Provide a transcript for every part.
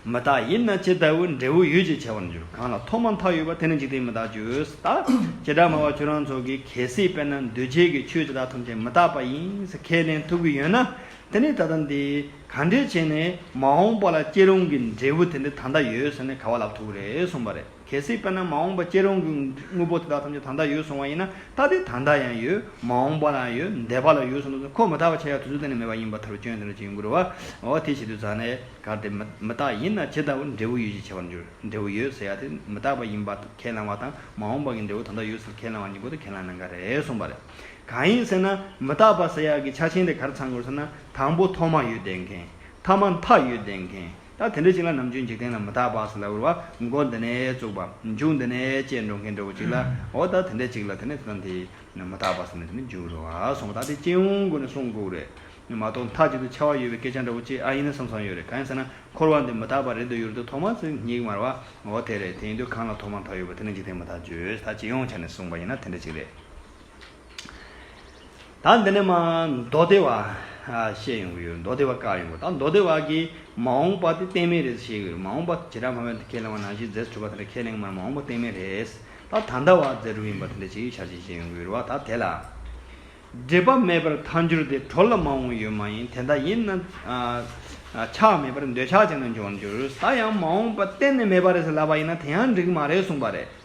མི་རྟག་ཡིན་ན་ཇི་ལྟ་བུའི་འབྲས་བུ་ཡོད་ཅེས་བྱ་བར་འགྱུར། གང་ལ་ཐོག་མ་མཐའ་ཡོད་པ་དེ་ནི་འཇིག་རྟེན་མི་རྟག་ཆོས་དག་བྱེ་བྲག་སྨྲ་བ་ཁྱོད་རང་ཚོ་གིས་གལ་སྲིད་དཔེར་ན་འདུས་བྱས་ཀྱི་ཆོས་དེ་དག་ཐམས་ཅད་མི་རྟག་པ་ཡིན་ཟེར་ཁས་ལེན་ཐུབ་ཀྱི་ཡོད་ན་དེ་ནི་ད་ལྟ་འདི་གང་འདྲས་བྱས་ནས་མ་འོངས་པ་ལ་སྐྱེ་རུང་གི་འབྲས་བུ་དེ་འདི་ད་ལྟ་ཡོད་ཟེར་ནས་ག་བ་ལབ་ཐུབ་ཀྱི་རེད་གསུངས་པ་རེད། གལ་སྲིད་དཔེར་ན་མ་འོངས་པ་སྐྱེ་རུང་གི་དངོས་པོ་དེ་དག་ཐམས་ཅད་ད་ལྟ་ཡོད་སོང་བ་ཡིན་ན་ད་ལྟའི་ད་ལྟ་ཡང་ཡོད། མ་འོངས་པ་ལའང་ཡོད། འདས་པ་ལ་ཡོད་སོང་ཚུལ་གོ་མི་ཐག་པ་ཆགས་ཡག་དུས་ཚོད་གཏན་ནས་མེད་པ་ཡིན་པ་ཐར་པའི་སྐྱོན་དེ་འདྲ་ཅིག་འགུལ་བའོ། དེ་བྱེད་དུས་ཟག་ནས་གར་དེ་མི་རྟག་ཡིན་ན་ཇི་ལྟ་བུར་འབྲས་བུ་ཡོད་ཅེས་བྱ་བར་འགྱུར། འབྲས་བུ་ཡོད་ཟེར་ཡག་དེ་མི་རྟག་པ་ཡིན་པར་ཁས་བླང་བ་དང་མ་འོངས་པ་གི་འབྲས་བུ་ད་ལྟ་ཡོད་ཟེར་ཁས་བླང་བ་གཉིས་ཀུན་ཏུ་ཁས་བླངས་ན་འགའ་རེ་གསུངས་པ་རེད། གང་ཡིན་ཟེར་ན་མི་རྟག་པ་ཟེར་ཡག་གི་ཆ་ཆེན་དེ་གར་ཚང་དགོས་ཟེར་ན་དང་པོ་ཐོག་མ་ཡོད་བསྡད་མཁན། ཐ་མ་མཐའ་ཡོད་བསྡད་མཁན། ད་དེ་འདྲ་ཞིག་ལ་ནམ་རྒྱུན་འཇིག་རྟེན་ལ་མི་རྟག་པ་སོགས་ལ་འུར་བ་མགོ་འདི་ནས་བཙུགས་པ་མཇུག་འདི་ནས་བཅད་འགྲོ་མཁན་འདྲ་བོ་ཅིག་ལ་འོ་ད་དེ་འདྲ་ཅིག་ལ་དེ་ནས་བརྩམས་ཏེ་མི་རྟག་པ་སོགས་ནས་དེ་ནས་འཇུག་རོ་ཨ་སོང་བ་ད་དེ་སྤྱི་ཡོངས་སྒོ་ནས་སོང་གུག་རེད་མ་གཏོགས་མཐའ་གཅིག་ཏུ་ཆ་བ་ཡོད་པའི་སྐད་ཆ་འདྲ་བོ་ཅིག་ཨ་ཡིན་ན་བསམ་བསམ་ཡོད་རེད་གང་ཡིན་ཟེར་ན་འཁོར་བ་འདི་མི་རྟག་པ་རེད་འདོད་ཡུར་དུ་ཐོག་མ་ཚོས་སྙིགས་མར་བ་འོ་དེ་རེད་དེ་ཡིན་དུས་གང་ལ་ཐོག་མ་མཐའ་ཡོད་པ་དེ་ནི་འཇིག་རྟེན་མི་རྟག་བརྗོད་ད་སྤྱི་ཡོངས་ཆ་ནས་གསུངས་པ་ཡིན་ན་དེ་འདྲ་ཅིག་རེད། ད་འདི་ནས་མ་མདོ་སྡེ་བ་བཤད་ཡོང་གི་ཡོད་མདོ་སྡེ་བ་བཀག་ཡོང་གི་ད་མདོ་སྡེ་བ་གིས་མ་འོངས་པ་དེ་བསྟན་མེད་རེད་བཤད་ཀྱི་ཡོད་མ་འོངས་པ་དེ་ཇི་ལྟར་མ་འོངས་པ་ཁས་ལེན་བ་ནང་བཞིན་རྫས་སུ་གྲུབ་པ་དེ་འདྲ་ཁས་ལེན་མར་མ་འོངས་པ་བསྟན་མེད་རེད་ད་ད་ལྟ་བ་རྫས་གྲུབ་ཡིན་པ་དེ་འདྲ་བྱེད་ཀྱི་ཆ་བྱེད་བྱེད་ཡོང་གི་ཡོད་རེད་བ་ད་དེ་ལ་འབྲེལ་པ་མེད་པར་མཐའ་འགྱུར་དེ་གྲོ་ལ་མ་འོངས་ཡོད་མ་ཡིན་དེ་འདྲ་ཡིན་ན་ཆགས་མེད་པར་འདོད་ཆགས་ཅན་དུ་འཇོག་འགྱུར་ད་ཡང་མ་འོངས་པ་གཏན་ནས་མེད་པ་རེད་ཟེར་ལབ་པ་ཡིན་ན་དེ་ཡང་འགྲིག་གི་མ་རེད་གསུངས་པ་རེད།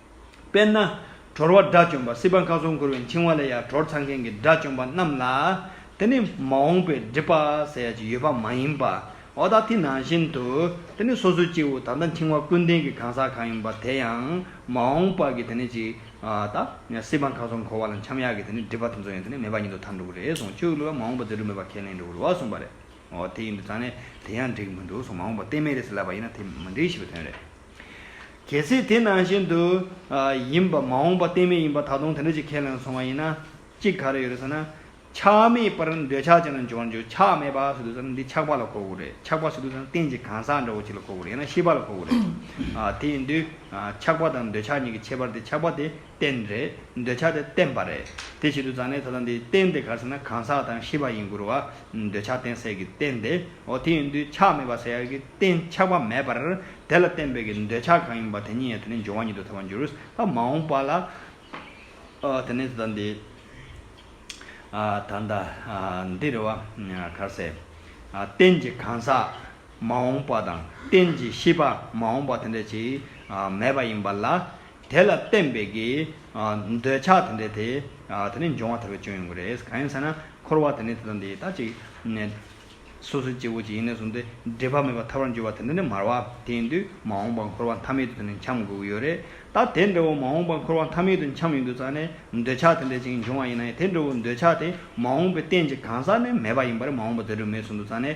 དཔེར་ན། གྲོར་བ་དགྲ་བཅོམ་པ་སྲིད་པ་མཁའ་ཚོན་འཁོར་བའི་འཆིང་བ་ལས་ཡང་གྲོར་འཚང་མཁན་གྱི་དགྲ་བཅོམ་པ་རྣམས་ལ། དེ་ནི་མ་འོངས་པའི་སྒྲིབ་པ་ཟེར་ཡ་ཅིག་ཡོད་པ་མ་ཡིན་པའོ། ད་ཐེངས་ནང་བཞིན་དུ། དེ་ནི་སོ་སོའི་སྐྱེ་བོ་ད་ལྟ་འཆིང་བ་ཀུན་ལྡན་གྱི་གང་ཟག་གང་ཡིན་པ་དེ་ཡང་མ་འོངས་པར་གྱི་དེ་ནི་ཅིག། ད། སྲིད་པ་མཁའ་ཚོན་འཁོར་བ་ལ་འཁྱམ་ཡག་གི་དེ་ནི་སྒྲིབ་པ་དེ་ཚོ་ཡང་དེ་ནི་མེད་པ་ཉིད་དུ་ཐར་འགྲོ་གི་རེད་གསུངས་ཁྱོད་ཀླུ་ལ་མ་འོངས་པ་རྫས་གྲུབ་མེད་པ་ཁས་ལེན་འགྲོ་གི་རོ་གསུངས་པ་རེད། འོ་དེ་ཡིན་དུས་ཙང་ནས་དེ་ཡང་འགྲིག་མི་འདུག་གསུངས་མ་འོངས་པ་གཏན་མེད་རེད་ཟེར་ལབ་པ་ཡིན་ན་དེ་མི་འགྲིག་ཞེས་པའི་དོན་རེད། གལ་སྲིད་དེ་ནང་བཞིན་དུ་ཡིན་པ་མ་འོངས་པ་གཏན་མེད་ཡིན་པ་ད་དུང་དེ་འདྲ་ཅིག་ཁས་ལེན་སོང་བ་ཡིན་ན། གཅིག་ག་རེ་ཡོད་རེད་ཟེར་ན། ཆགས་མེད་པར་འདོད་ཆགས་ཅན་ལ་འབྱོར་ན་འགྱུར་ཆགས་མེད་པ་ཟེར་དུས་ཟེར་ན་འདི་ཆགས་པ་ལ་གོ་དགོས་རེད་ཆགས་པ་ཟེར་དུས་ཟེར་ན་གཏན་གྱི་གང་ཟག་འདྲ་བོ་ཅིག་ལ་གོ་དགོས་རེད་ཡང་ན་ཤེས་པ་ལ་གོ་དགོས་རེད། དེ་ཡིན་དུས་ཆགས་པ་དང་འདོད་ཆགས་གཉིས་ཀྱི་ཁྱད་པར་དེ་ཆགས་པ་དེ་བསྟན་རེད། འདོད་ཆགས་དེ་བསྟན་པ་རེད། དེ་བཞིན་དུ་ཛཱ་ནའི་ད་དང་དེའི་རྟེན་དེ་གར་ཟེར་ན་གང་ཟག་དང་ཤི་བ་ཡིན་དགུར་བ། འདོད་ཆགས་བསྟན་སྲེད་ཀྱི་རྟེན་དེ། འོ་དེ་ཡིན་དུས་ཆགས་མེད་པ་ཟེར་ཡག་གི་རྟེན་ཆགས་པ་མེད་པར། དེ་ལ་བརྟེན་པའི་གི་འདོད་ཆགས་གང་ཡིན་པ་དེ་ཉིད་ཡང་དེ་ནས་འབྱུང་བ་ཉིད་དུ་ཐལ་བར་འགྱུར། མ་འོངས་པ་ལ། དེ་ནས་ད་དང་དེའི། ད་ལྟ། འདི་རེད་བ། གར་ཟེར། རྟེན་གྱི་གང་ཟག། མ་འོངས་པ་དང། རྟེན་གྱི་ཤི་བ། མ་འོངས་པ་དེ་འདྲ་ཅིག། མེད་པ་ཡིན་པ་ལ། དེ་ལ་བརྟེན་པའི་གི། འདོད་ཆགས་དེ་འདྲའི་དེ། དེ་ནི་འབྱུང་བ་ཐར་པའི་སྐྱོན་ཡིན་དགོས་རེད། གང་ཡིན་ཟེར་ན། འཁོར་བ་དེ་ནི་དེ་དང་དེའི་ལྟ་ཅིག། སོ་སོའི་སྐྱེ་བོ་གཅིག་ཡིན་ནས་བཟུང་སྟེ། སྒྲིབ་པ་མེད་པར་ཐར་བར་འགྱུར་བ་དེ་འདྲ་ནི་མར་བ། དེ་ཡིན་དུས་མ་འོངས་པར་འཁོར་བ་མཐའ་མེད་དུ་དེ་ནི་འཁྱམ་དགོས་ཀྱི་ཡོད་རེད། ད་དེ་འདྲ་བོ་མ་འོངས་པར་འཁོར་བ་མཐའ་མེད་དུ་འཁྱམ་ཡོང་དུས་རྩ་ནས། འདོད་ཆགས་དེ་འདྲའི་ཅིག་འབྱུང་བ་ཡིན་ནའི་དེ་འདྲ་བོ་འདོད་ཆགས་དེ་མ་འོངས་པའི་རྟེན་གྱི་གང་ཟག་ནི་མེད་པ་ཡིན་པ་རེད་མ་འོངས་པ་དེ་འདྲ་མེད་བཟུང་དུ་རྩ་ནས།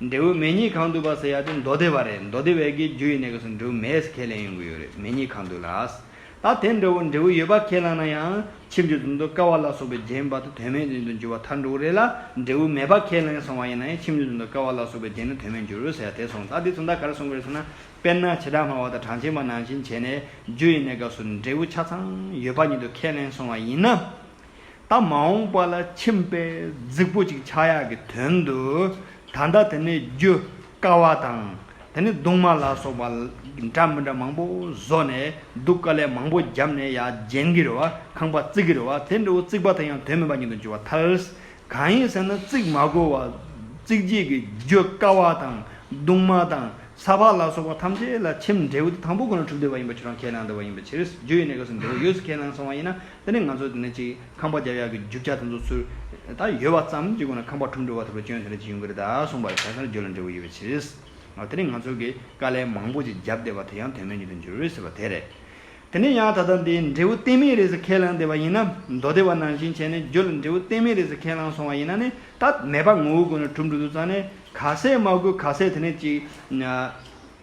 འབྲས་བུ་མེད་གཉིས་གང་འདུག་པ་ཟེར་ཡ་དེ་མདོ་སྡེ་བ་རེད་མདོ་སྡེ་བས་ཀྱི་རྒྱུ་ཡི་ནས་ཀྱི་སུ་འབྲས་བུ་མེད་ཟེར་ཁས་ལེན་ཡོང་གི་ཡོད་རེད་མེད་གཉིས་གང་འདུག་ལགས། ད་དེ་འདྲ་བོ་འབྲས་བུ་ཡོད་པ་ཁས་བླངས་ན་ཡང་ཕྱིས་འཇུ་འཛིན་དུ་ཀ་བ་ལ་སོགས་པའི་རྒྱན་བར་དུ་དོན་མེད་འཛིན་དུ་འགྱུར་བ་ཐར་འགྲོ་གི་རེད་ལ་འབྲས་བུ་མེད་པ་ཁས་ལེན་སོང་བ་ཡིན་ན་ཡང་ཕྱིས་འཇུ་འཛིན་དུ་ཀ་བ་ལ་སོགས་པའི་རྒྱན་ནི་དོན་མེད་འགྱུར་རོ་ཟེར་ཡ་དེ་སོང་ད་དེ་ཚོ་མདའ་གར་སོང་གི་རེད་ཟེར་ན་དཔེར་ན་བྱེ་བྲག་སྨྲ་བ་དང་གྲངས་ཅན་པ་ནང་བཞིན་བྱས་ནས་རྒྱུ་ཡི་ནས་ཀ་སུ་འབྲས་བུ་ཆ་ཚང་ཡོད་པ་ཉིད་དུ་ཁས་ལེན་སོང་བ་ཡིན་ན། ད་མ་འོངས་པ་ལ་ཁྱིམ་པས་རྫིག་པོ་ཅིག་ཆགས་ཡག་གི་དོན་དུ་ད་ལྟ་དེ་ནས་རྒྱུ་དཀའ་བ་དང་དེ་ནས་རྡུང་མ་ལ་སོགས་པ་འདྲ་མི་འདྲ་མང་པོ་བཟོ་ནས་སྡུག་དཀའ་ལས་མང་པོ་བརྒྱབ་ནས་ཡ་རྗེན་གི་རེ་བ་ཁང་པ་བརྩིག་གི་རེ་བ་དེ་འདྲ་བོ་བརྩིག་པ་དེ་ཡང་དོན་མེད་པ་ཉིད་དུ་འགྱུར་བ་ཐལ། གང་ཡིན་ཟེར་ན་བརྩིག་མ་དགོས་བ་བརྩིག་བྱེད་ཀྱི་རྒྱུ་དཀའ་བ་དང་རྡུང་མ་དང་ས་ཕག་ལ་སོགས་པ་ཐམས་ཅད་ལ་ཁྱིམ་འབྲས་བུ་དེ་དང་པོ་ཁོ་ན་གྲུབ་བསྡད་པ་ཡིན་པ་ཆུ་རང་ཁས་བླངས་བསྡད་པ་ཡིན་པའི་ཕྱིར་རྒྱུ་ཡི་གནས་སྐབས་སུ་འབྲས་བུ་ཡོད་ཚུལ་ཁས་བླངས་སོང་བ་ཡིན་ན་དེ་ནས་ང་ཚོས་དེ་ནས་ཅིག་ཁང་པ་བརྒྱབ་ཡག་གི་རྒྱུག་ཆ་དེ་ཚོ་ཚུར་ད་ཡོད་བ་ཙམ་ཅིག་གོ་ན་ཁང་པ་འཁྲུག་འགྲོ་བ་ཐུབ་པའི་སྐྱོན་དེ་འདྲ་ཅིག་ཡོང་གི་རེད་ད་གསུངས་པ་ཁྱད་མཚར་འགྱུར་ལ་འབྲས་བུ་ཡོད་པའི་ཕྱིར། དེ་ནས་ང་ཚོ་གིས་དཀའ་ལས་མང་པོ་ཅིག་བརྒྱབ་བསྡད་པ་དེ་ཡང་དོན་མེད་ཉིད་དུ་འགྱུར་འོས་ཟེར་བ་དེ་རེད། དེ་ནས་ཡང་ད་ལྟ་འདི་འབྲས་བུ་གཏན་མེད་རེད་ཟེར་ཁས་བླངས་བསྡད་པ་ཡིན་ན་མདོ་སྡེ་བ་ནང་བཞིན་བྱས་ནས་རྒྱུ་ལ་འབྲས་བུ་གཏན་མེད་རེད་ཟེར་ཁས་བླངས་སོང་བ་ཡིན་ན་ནི་ད་མེད་པ་ངོ་བོ་གོ་ན་གྲུབ་འགྲོ་འདུག་ཙང་ནས་ག་ཟེ་མ་གོ་ག་ཟེ་དེ་ནས་ཅིག།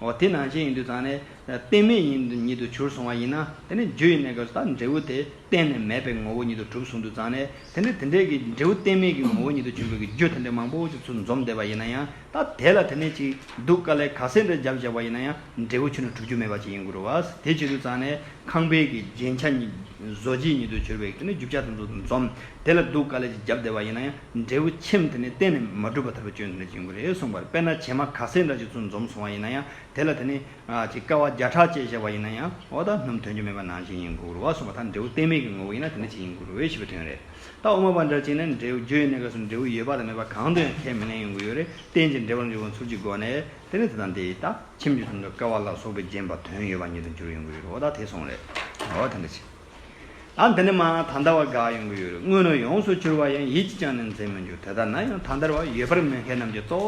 འོ་དེ་ནང་བཞིན་ཡིན་དུས་ཚང་ནས་རྟེན་མེད་ཉིད་དུ་གྱུར་སོང་བ་ཡིན་ན་དེ་ནི་རྒྱུ་ཡིན་ནའི་སྐབས་སུ་ད་འབྲས་བུ་དེ་གཏན་ནས་མེད་པའི་ངོ་བོ་ཉིད་དུ་གྲུབ་སོང་དུས་ཚང་ནས་དེ་འདྲའི་དེ་འདྲའི་གི་འབྲས་བུ་གཏན་མེད་ཀྱི་ངོ་བོ་ཉིད་དུ་གྱུར་དགོས་ཀྱི་རྒྱུ་དེ་འདྲའི་མང་པོ་ཅིག་ཚུར་འཛོམས་བསྡད་པ་ཡིན་ན་ཡང་ད་དེ་ལ་དེ་ནས་ཅིག་སྡུག་དཀའ་ལས་ག་སེ་འདྲ་བརྒྱབ་བཞག་པ་ཡིན་ན་ཡང་འབྲས་བུ་ཆུད་ནས་གྲུབ་རྒྱུ་མེད་པ་ཅིག་ཡིན་དགོས་རུ་བ། དེ་བྱེད་དུས་ཚང་ནས་ཁང་པའི་གི་རྒྱན་ཆ་ཉིད་བཟོ་བྱེད་ཉིད་དུ་གྱུར་པའི་གི་ནི་རྒྱུ་བྱ་དེ་ཚུར་འཛོམས་དེ་ལ་སྡུག་དཀའ་ལས་ཅིག་བརྒྱབ་བསྡད་པ་ཡིན་ན་ཡང། འབྲས་བུ་ཁྱིམ་དེ་ནི་གཏན་ནས་མ་གྲུབ་པ་ཐར་པའི་སྤྱོད་ཡུལ་འདིར་འབྱིན་དགོས་རེ་གསུངས་པར་དཔེར་ན་བྱེ་མ་ག་སེར་འདྲ་ཅིག་ཚུར་འཛོམས་སོང་བ་ཡིན་ན་ཡང་དེ་ལ་དེ་ནི། ཅེས་དཀའ་བ་བརྒྱ་ཕྲག་བཅས་བཤད་པ་ཡིན་ན་ཡང་འོ་ད་སྣུམ་དོན་རྒྱུ་མེད་པ་ནང་བཞིན་ཡིན་དགོས་རོ་གསུངས་པ་ལྟར་འབྲས་བུ་གཏན་མེད་ཀྱི་ངོ་བོ་ཡིན་ན་དེ་ནི་ཅི་ཡིན་དགོས་རེ་ཞེས་པའི་དོན་རེད། ད་དབུ་མ་པ་འདྲ་གཅིག་ནི་འབྲས་བུ་རྒྱུ་ཡོད་གནས་སྐབས་སུ་འབྲས་བུ་ཡོད་པ་དང་མེད་པ་གང་དུ་ཡང་ཁས་མི་ལེན་ཡོང་གི་ཡོད་རེ་བསྟན་ཅིང་འབྲེལ་བར་འཇུག་ཁོང་ཚུར་གྱི་སྒོ་ནས་དེ་ནི་དེ་དང་དེའི་ད་ཁྱིམ་རྒྱུ་ཙམ་དུ་དཀའ་བ་ལ་སོགས་པས་བརྒྱན་པ་དོན་ཡོད་པ་ཉིད་དུ་འགྱུར་ཡོང་གི་ཡོད་རེ་འོ་ད་དེ་སོང་རེ་འོ་ད་འདྲ་ཅིག། ཨ་འདི་ནི་མ་ད་ལྟ་བ་དགའ་ཡོང་གི་ཡོད་རེད་དངོས་ནས་ཡོངས་སུ་གྱུར་བ་ཡང་ཡིད་ཀྱིས་ཅང་ནས་འཛིན་མི་འགྱུར་དེ་ལྟར་ན་ཡང་ད་ལྟར་བ་ཡོད་པར་མི་མཁས་རྣམས་ཀྱིས་གཙོ་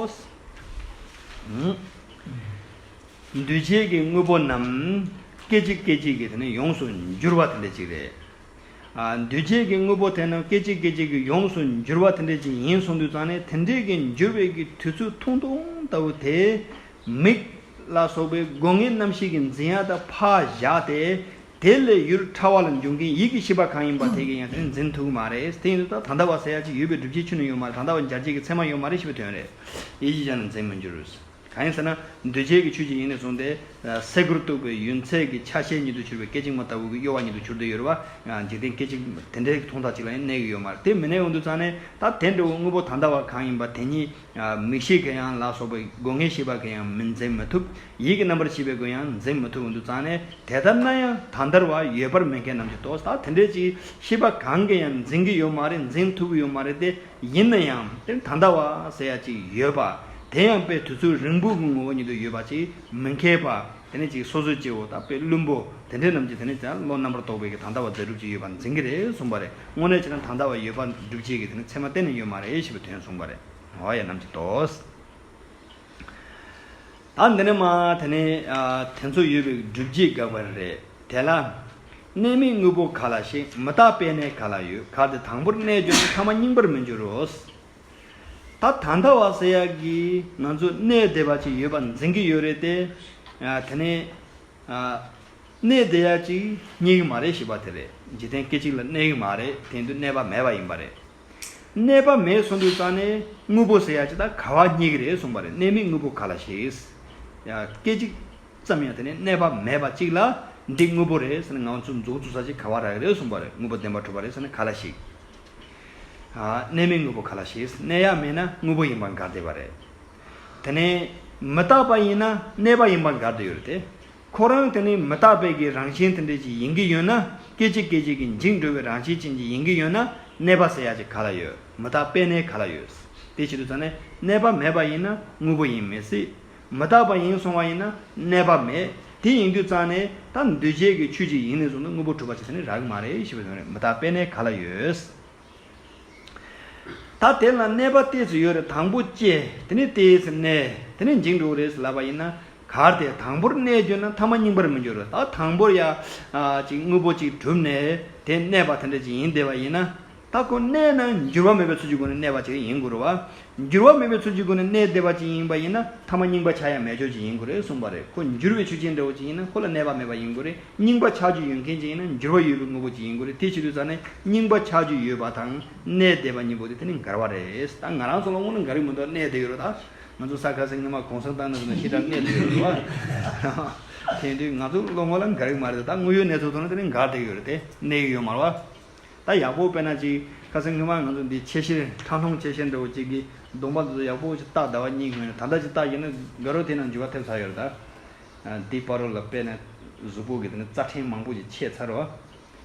བོ། འདུས་བྱས་ཀྱི་དངོས་པོ་རྣམས་སྐད་ཅིག་སྐད་ཅིག་གིས་དེ་ནི་ཡོངས་སུ་འགྱུར་བ་དེ་འདྲ་ཅིག་རེད། འདུས་བྱས་ཀྱི་དངོས་པོ་དེ་རྣམས་སྐད་ཅིག་སྐད་ཅིག་གིས་ཡོངས་སུ་འགྱུར་བ་དེ་འདྲ་ཅིག་ཡིན་གསུངས་དུས་ཙང་ནས་དེ་འདྲའི་གི་འགྱུར་བའི་གི་དུས་ཚོད་ཐུང་ཐུང་ལྟ་བུ་དེས། མིག། ལ་སོགས་པའི་སྒོ་ངའི་རྣམ་ཤེས་ཀྱི་འཛིན་ཡ་དག་ཕ་བཞག་སྟེ། དེ་ལས་ཡུལ་ཕྲ་བ་ལ་འབྱུང་མཁན་ཡིད་ཀྱི་ཤེས་པ་གང་ཡིན་པ་དེ་གའི་ཡང་ཚུལ་འཛིན་ཐུག་མ་རེད། དེ་ཡིན་དུས་ད་ད་ལྟ་བ་ཟེར་ཡ་གཅིག་ཡོད་པའི་སྒྲུབ་བྱེད་ཆུ་ནི་ཡོད་མ་རེད་ད་ད་བ་འབྱར་བྱེད་ཀྱི་ཚད་མ་ཡོད་མ་རེད་ཞེས་པའི་དོན་རེད། ཡིད་ཀྱི་ཆ་ནི་འཛིན་མི་འགྱུར། གང་ཡིན་ཟེར་ན། འདུས་བྱས་ཀྱི་ཆོས་ཀྱི་དབྱིངས་ནས་བཟུང་སྟེ། སེ་གོལ་གཏུགས་པའི་ཡུན་ཚད་ཀྱི་ཆ་ཤས་ཉིད་དུ་གྱུར་པའི་སྐད་ཅིག་མ་ལྟ་བུ་གྱི་གཡོ་བ་ཉིད་དུ་གྱུར་ཏེ་ཡོད་རེད་བ། འཇིག་རྟེན་སྐད་ཅིག་དེ་འདྲའི་མཐོང་ཐག་ཅིག་ལ་ཡང་གནས་ཀྱི་ཡོད་མ་རེད་དེ་མི་གནས་འོང་དུས་ཙང་ནས་ད་དེ་འདྲ་བའི་དངོས་པོ་ད་ད་བ་གང་ཡིན་པ་དེ་ཉིད། མིག་ཤེས་གི་ཡང་ལ་སོགས་པའི་སྒོ་ངའི་ཤེས་པ་གི་ཡང་མི་འཛིན་མི་ཐུབ། ཡིད་ཀྱི་རྣམ་པར་ཤེས་པའི་སྒོ་ཡང་འཛིན་མི་ཐུབ་བོ་འདུག་ཙང་ནས་དེ་ལྟར་ན་ཡང་དང་འདར་བ་ཡོད་པར་མི་མཁས་རྣམས་ཀྱིས་དོགས་ཟ་དེ་འདྲའི་ཅིག་ཤེས་པ་གང་གི་ཡང་འཛིན་གི་ཡོད་མ་རེད་འཛིན་ཐུབ་ཀྱི་ཡོད་མ་རེད་དེ་ཡིན་ན་ཡང་དེ་ད་འདར་བ་ཟེར་ཡ་ཅིག་ཡོད་པ་དེ་ཡང་དཔེ་དུས་ཚོད་རིང་པོའི་ངོ་བོ་ཉིད་དུ་ཡོད་པ་ཅིག་མི་མཁས་པ། དེ་ནས་ཅིག་སོ་སོའི་སྐྱེ་བོ་དག་པའི་བླུན་པོ་དེ་འདྲས་རྣམས་ཀྱིས་དེ་ནས་ཀྱང་བློ་རྣམ་པར་རྟོག་པའི་གི་དང་འདའ་བ་འཛད་སྒྲུབ་ཀྱི་ཡོད་པར་འཛིན་གྱི་རེད་གསུངས་པ་རེད་དངོས་གནས་བྱས་ན་དང་འདའ་བ་ཡོད་པར་སྒྲུབ་བྱེད་ཀྱི་དེ་ནི་ཚད་མ་གཏན་ནས་ཡོད་མ་རེད་ཞེས་པའི་དོན་གསུངས་པ་རེད། ཧོ་ཡ་རྣམས་ཀྱིས་དོས། ད་འདི་ནས་མ་དེ་ནི་དེ་ཚོ་ཡོད་པའི་སྒྲུབ་བྱེད་དགག་པ་རེད། དེ་ལ། གནས་མེད་དངོས་པོ་ག་ལ་ཞིག་མི་རྟག་པས་ནས་ག་ལ་ཡོད་ག་དེ་དང་པོར་གནས་བྱུང་ན་ཐ་མ་རྙིང་པར་མི་འགྱུར་རོ། ད་ད་ལྟ་བ་ཟེར་ཡག་གི་ང་ཚོས་གནས་བདེ་བ་ཅིག་ཡོད་པ་འཛིན་གི་ཡོད་རེད་དེ། དེ་ནས། གནས་བདེ་ཡག་ཅིག་རྙེད་གི་མ་རེད་ཞེས་པ་དེ་རེད་འཇིག་རྟེན་སྐད་ཅིག་ལ་གནས་གི་མ་རེད་དེང་དུས་གནས་པ་མེད་པ་ཡིན་པ་རེད། གནས་པ་མེད་སོང་དུས་རྩ་ནས་དངོས་པོ་ཟེར་ཡག་ཅིག་ད་ག་བ་རྙེད་གི་རེད་གསུངས་པ་རེད་གནས་མེད་དངོས་པོ་ག་ལ་ཞིག། སྐད་ཅིག་ཙམ་ཡང་དེ་ནས་གནས་པ་མེད་པ་ཅིག་ལ་འདི་དངོས་པོ་རེད་ཟེར་ན་ང་ཚོ་འཛུགས་འཛུགས་ས་ཅིག་ག་བ་རག་གི་རེད་གསུངས་པ་རེད་དངོས་པོ་བདེན་པ་གྲུབ་པ་རེད་ཟེར་ན་ག་ལ་ཞིག། གནས་མེད་དངོས་པོ་ག་ལ་ཞིག་གནས་ཡག་མེད་ན་དངོས་པོ་ཡིན་པར་འགལ་ཟློས་པ་རེད། དེ་ནས་མི་རྟག་པ་ཡིན་ན་གནས་པ་ཡིན་པར་འགལ་ཟློས་ཡོད་དེ། ཁོ་རང་དེ་ནི་མི་རྟག་པའི་གི་རང་བཞིན་དེ་འདྲས་ཅིག་ཡིན་གི་ཡོད་ན་སྐད་ཅིག་སྐད་ཅིག་གི་འཇིག་འགྲོ་བའི་རང་བཞིན་ཅན་ཅིག་ཡིན་གི་ཡོད་ན་གནས་པ་ཟེར་ཡག་ཅིག་ག་ལ་ཡོད་མི་རྟག་པའི་གནས་ག་ལ་ཡོད། དེ་བྱེད་དུ་ཚང་ནས་གནས་པ་མེད་པ་ཡིན་ན་དངོས་པོ་ཡིན་མི་སྲིད། མི་རྟག་པ་ཡིན་སོང་བ་ཡིན་ན་གནས་པ་མེད། དེ་ཡིན་དུས་གཙང་ནས་ད་འདུས་བྱས་ཀྱི་ཆོས་ཅིག་ཡིན་ནས་བཟུང་ན་དངོས་པོ་གྲུབ་པ་བྱས་ས་ནི་རག་གི་མ་རེད་ཞེས་པའི་དོན་རེད་མི་རྟག་པའི་གནས་ག་ལ་ཡོད། ད་དེ་ལ་གནས་པ་ལྟས་སུ་ཡོད་རེད་དང་པོ་སྐྱེ་དེ་ནས་ལྟས་སུ་གནས་དེ་ནས་འཇིག་འགྲོ་རེད་ལབ་པ་ཡིན་ན་གར་དེ་དང་པོར་གནས་གྱུར་ན་ཐ་མ་རྙིང་པར་མི་འགྱུར་རོ་ད་དང་པོར་ཡ། ཅིག་དངོས་པོ་ཅིག་གྲུབ་ནས་དེ་གནས་པ་དེ་འདྲ་ཅིག་ཡིན་བདེ་བ་ཡིན་ན། ད་ཁོ་གནས་ན་འགྱུར་བ་མེད་པའི་ཚུལ་གྱི་སྒོ་ནས་གནས་པ་ཅིག་ཡིན་དགོས་རུང་བ། འགྱུར་བ་མེད་པའི་ཚུལ་གྱི་སྒོ་ནས་གནས་བདེ་བ་ཅིག་ཡིན་པ་ཡིན་ན་ཐ་མ་རྙིང་པ་ཆགས་ཡ་མེད་ཆོས་ཅིག་ཡིན་དགོས་རེད་གསུངས་པ་རེད་ཁོ་འགྱུར་བའི་ཆོས་ཅན་འདྲ་བོ་ཅིག་ཡིན་ན་ཁོ་ལ་གནས་པ་མེད་པ་ཡིན་དགོས་རེད་རྙིང་པ་ཆགས་རྒྱུ་ཡོད་མཁན་ཅིག་ཡིན་ན་འགྱུར་བ་ཡོད་པའི་དངོས་པོ་ཅིག་ཡིན་དགོས་རེད་དེ་བྱེད་དུས་ཚང་ནས་རྙིང་པ་ཆགས་རྒྱུ་ཡོད་པ་དང་གནས་བདེ་བ་གཉིས་པོ་དེ་དེ་ནི་འགལ་བ་རེད་ད་ང་རང་ཚོ་ལ་དངོས་ནས་འགལ་རིགས་མི་འདུག་གནས་བདེ་ཡོད་རུང་ད་ང་ཚོ་ས་ཁ་སེ་ངེ་མ་གོང་ས་མདང་ནས་བཟུང་ནས་ཤི་དྲག་གནས་བདེ་ཡོད་རུང་བ། དེ་ཡིན་དུས་ང་ཚོ་ལོ་ངོ་ལ་འགལ་རིགས་མ་རེད་དོ་ད་དངོས་ཡོད་གནས་ཚུལ་ཐོག་ནས་དེ་ནི་འགལ་བདེ་ཡོད་རེད་དེ་གནས་ཡུལ་ཡོད་མ་རུང་བ། ད་ཡག་པོ་དཔེ་ན་ཅིག་ཁ་སང་སྔོན་མ་ང་ཚོ་འདི་ཆེ་བཞིར་ཁྲག་སྣོམ་ཆེ་བཞིར་འདྲ་བོ་ཅིག་གི་གདོང་པ་དེ་ཚོ་ཡག་པོ་ཅིག་བཏགས་ཟླ་བ་གཉིས་གི་མན་ད་ལྟ་ཅིག་བཏགས་ཡོད་ན་དགའ་རོགས་དེ་ནང་འཇུ་བ་ཐེབས་ཚར་ཡོད་རེད་ད། འདི་པར་རོ་ལ་དཔེ་ན་གཟུགས་པོ་གི་དེ་ནི་རྩ་ཕྲན་མང་པོ་ཅིག་ཆད་ཚར་རོ།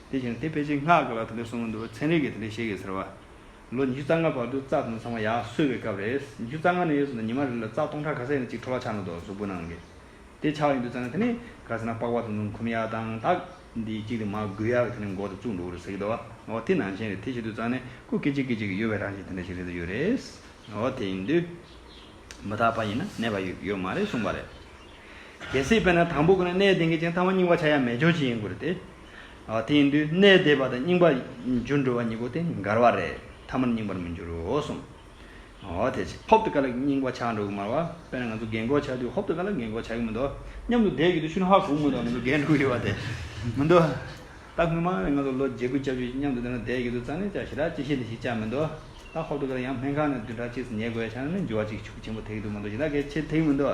དེ་བཞིན་དེ་ཕལ་ཆེར་སྔགས་ཀྱི་ལ་དེ་འདྲ་གསུངས་གི་འདུག་ཚན་རིག་གི་དེ་འདྲ་ཤེས་གི་ཟེར་བ། ལོ་ཉི་ཤུ་རྩ་ལྔ་བར་དུ་རྩ་དེ་ནི་ཚང་མ་ཡག་གསོས་པའི་སྐབས་རེད། ཉི་ཤུ་རྩ་ལྔ་ནས་ཡོད་ཚད་ནི་ཉི་མ་རེ་ལ་རྩ་སྟོང་ཕྲག་ག་ས་ཡང་ཅིག་འཕྲོ་བརླག་ཆགས་ན་འདོད་གཟུགས་པོ་ནང་གི་དེ་ཆགས་ཡོད་དུ་བཙལ་ན་དེ་ནི་ག་ཚོད་ན་པགས་པ་དང་དུང་ཁུམ་ཡག་དང་ལྟག་འདི་གཅིག་དེ་མ་དགོས་ཡག་དེ་ནི་མགོ་དང་གཙུག་འགྲོ་རུ་ཟེར་གྱི་འདུག་ཨོ་དེ་ནང་བཞིན་རེད་དེ་བྱེད་དུ་བཙལ་ནས་སྐུ་སྐེ་གཅིག་སྐེ་གཅིག་གི་གཡོ་བའི་རང་བཞིན་དེ་འདྲ་ཞིག་རེད་དུ་ཡོད་རེད་ཨོ་དེ་ཡིན་དུས། མི་དག་པ་ཡིན་ན་ནད་པ་ཡོད་ཡོད་མ་རེད་གསུངས་པ་རེད། གལ་སྲིད་དཔེར་ན་དང་པོ་གོ་ན་ནད་དེ་འགའི་ཅིང་ཐ་མ་རྙིང་པ་ཆགས་ཡ་མེད་ཆོག་ཅིག་ཡིན་དགོས་རེད་དེ། ཨོ་དེ་ཡིན་དུས་ནད་དེ་བ་དང་རྙིང་པ་འགྱུར་འགྲོ་བ་གཉིས་པོ་དེ་འགར་བ་རེད་ཐ་མར་རྙིང་པར་མི་འགྱུར་རོ་གསུངས། ཨོ་དེ་ཕྱིར་ཧོབ་ཏུ་ཀ་ལ་སྙིང་བ་ཆགས་འགྲོ་གི་མ་རེད། དཔེར་ན་ང་ཚོ་རྒན་འཁོགས་ཆགས་དུས་ཧོབ་ཏུ་ཀ་ལ་རྒན་འཁོགས་ཆགས་ཀྱི་མི་འདུག་སྙམ་དུ་བསྡད་ཀྱི་འདུག་ཤུན་ཧྭ་གུག་མོ་དང་ང་ཚོ་རྒས་འགྲོ་གི་ཡོད་པ་དེ་མི་འདུག། ད་སྔོན་མ་ནས་ང་ཚོ་ལོ་བརྒྱད་དགུ་བཅར་རྒྱུ་སྙམ་དུ་འདི་ན་བསྡད་ཀྱི་འདུག་རྩ་ནས་ཅག་ཞི་དྲག་ཅི་ཤེས་འདི་ཤེས་ཅག་མི་འདུག། ད་ཧོབ་ཏུ་ཀ་ལ་ཡང་སྨན་ཁང་ནས་བདུན་ཕྲག་གཅིག་སུ་ཉལ་དགོས་ཡ་ཆགས་ན་ནི་འགྱུར་བ་ཅིག་ཆུ་ཆེན་པོ་དེ་གི་འདུག་མ་འདུག་ཞེ་ད་གལ་ཆེ་དེ་གི་མི་འདུག།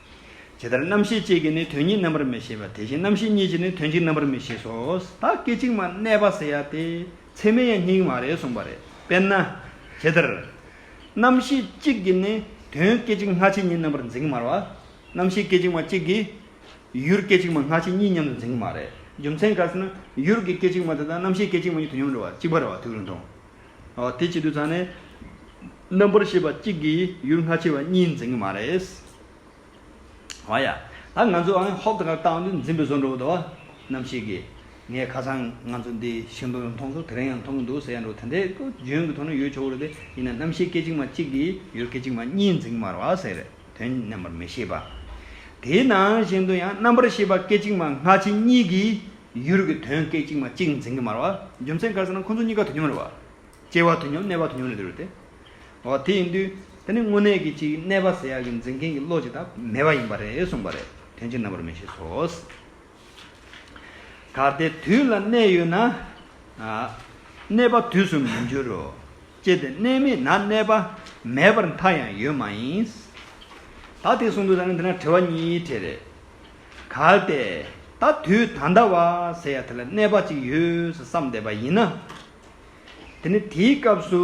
ཇི་ལྟར་རྣམ་ཤེས་གཅིག་གིས་ནི་དོན་གཉིས་རྣམ་པར་མི་ཤེས་པ་དེ་བཞིན་རྣམ་ཤེས་གཉིས་ཀྱིས་ནི་དོན་གཅིག་རྣམ་པར་མི་ཤེས་སོ། ད་སྐད་ཅིག་མ་གནས་པ་ཟེར་ཡ་སྟེ་ཚད་མའི་ཡང་སྙིང་མ་རེད་གསུངས་པ་རེད། དཔེར་ན། ཇི་ལྟར། རྣམ་ཤེས་གཅིག་གིས་ནི་དོན་སྐད་ཅིག་སྔ་ཕྱི་གཉིས་རྣམ་པར་འཛིན་གྱི་མ་རེད། རྣམ་ཤེས་སྐད་ཅིག་མ་གཅིག་གིས། ཡུལ་སྐད་ཅིག་མ་སྔ་ཕྱི་གཉིས་མཉམ་དུ་འཛིན་གྱི་མ་རེད། རྒྱུ་མཚན་ག་ཟེར་ན། ཡུལ་གྱི་སྐད་ཅིག་མ་དེ་དག་རྣམ་ཤེས་སྐད་ཅིག་མ་གཉིས་དོན་སྙོམས་འགྲོ་བ་གཅིག་པ་རེད་བ་དེ་བས་རུང་དང། དེ་བྱེད་དུས་ཚང་ནས། རྣམ་པར་ཤེས་པ་གཅིག་གིས་ཡུལ་སྔ་ཕྱི་བ་གཉིས་འཛིན་གྱི་མ་རེད། བ་ཡ། ད་ང་ཚོའང་ཧོབ་དགའ་བཏང་དུས་འཛིན་པའི་བཟོ་འགྲོ་བ་དོ། ནམ་ཞིག་གིས། ངས་ཁ་སང་ང་ཚོ་འདི་ཤིང་སྡོང་ཡང་མཐོང་ཚོ་དེ་རིང་ཡང་མཐོང་གི་འདུག་ཟེར་ཡ་འགྲོ་དེ་འདྲའི་ལྗོན་གྱི་ཐོག་ནས་ཡོད་ཆོག་གི་རེད་དེ་ཡིན་ན་རྣམ་ཤེས་སྐད་ཅིག་མ་གཅིག་གིས་ཡུལ་སྐད་ཅིག་མ་གཉིས་འཛིན་གྱི་མ་རེད། དོན་རྣམ་པར་མི་ཤེས་པ། དེའི་ནང་བཞིན་དུ་ཡང་རྣམ་པར་ཤེས་པ་སྐད་ཅིག་མ་སྔ་ཕྱི་གཉིས་ཀྱི་ཡུལ་གྱི་དོན་སྐད་ཅིག་མ་གཅིག་འཛིན་གྱི་མར་བ། རྒྱུ་མཚན་ག་ཟེར་ན་ཁོ་ཚོ་གཉིས་ཀ་དུས་མཉམ་རེད་བ། སྐྱེ་བ་དུས་མཉམ་གནས་པ་དུས་མཉམ་ལས་དུས་རེད་དེ། འོ་དེ་ཡིན་དུས་དེ་ནི་དངོས་གནས་ཀྱི་གཅིག་གནས་པ་ཟེར་ཡག་གི་འཛིན་མཁན་གྱི་བློ་ཅིག་དང་མེད་པ་ཡིན་པ་རེད་གསུངས་པ་རེད་དོན་སྤྱིར་རྣམ་པར་མི་ཤེས་སོ། ད་ལྟའི་དུས་ལ་གནས་ཡོད་ན། གནས་པ་དུས་སུ་མི་འགྱུར་རོ། ཅེས་ཏེ་གནས་མེད་ན་གནས་པ་མེད་པར་མཐའ་ཡང་ཡོད་མ་ཡིན། ད་དེ་གསུངས་འདུག་ད་ནི་འདི་ན་དྲི་བ་གཉིས་དྲིས། རེས་གལ་ཏེ་ད་དུས་ད་ལྟ་བ་ཟེར་ཡ་དེ་ལ་གནས་པ་ཅིག་ཡོད་བསམ་བསྡད་པ་ཡིན་ན། དེ་ནི་དེའི་སྐབས་སུ་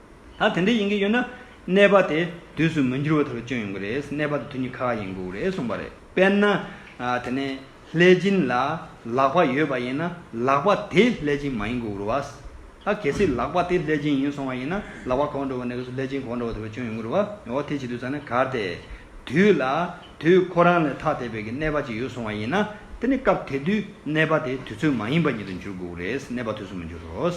ད་དེ་འདྲ་ཡིན་གྱི་ཡོད་ན། གནས་པ་དེ་དུས་སུ་མི་འགྱུར་བ་དེ་རུ་སྐྱོན་ཡོང་གི་རེད། གནས་པ་དེ་དུས་ཉི་ཁ་ཁ་ཡིན་དགོས་རེད་གསུངས་པ་རེད། དཔེར་ན། དེ་ནས་ལྷས་སྦྱིན་ལ་ལག་པ་ཡོད་པ་ཡིན་ན་ལག་པ་དེ་ལྷས་སྦྱིན་མ་ཡིན་དགོས་རུ་བ། ད་གལ་སྲིད་ལག་པ་དེ་ལྷས་སྦྱིན་ཡིན་སོང་བ་ཡིན་ན་ལག་པ་གོག་འགྲོ་བ་ནས་གོས་སུ་ལྷས་སྦྱིན་གོག་འགྲོ་བ་དེ་རུ་སྐྱོན་ཡོང་གི་རུ་བ། འོ་དེ་བྱེད་དུས་ཙང་ནས་གར་དེ་དུས་ལ་དུས་ཁོ་རང་ལས་ཐ་དད་པའི་གི་གནས་པ་ཅིག་ཡོད་སོང་བ་ཡིན་ན། དེ་ནས་སྐབས་དེ་དུས་གནས་པ་དེ་དུས་ཚོད་མ་ཡིན་པ་ཉིད་དུ་འགྱུར་དགོས་རེད། གནས་པ་དུས་སུ་མི་འགྱུར་རོ།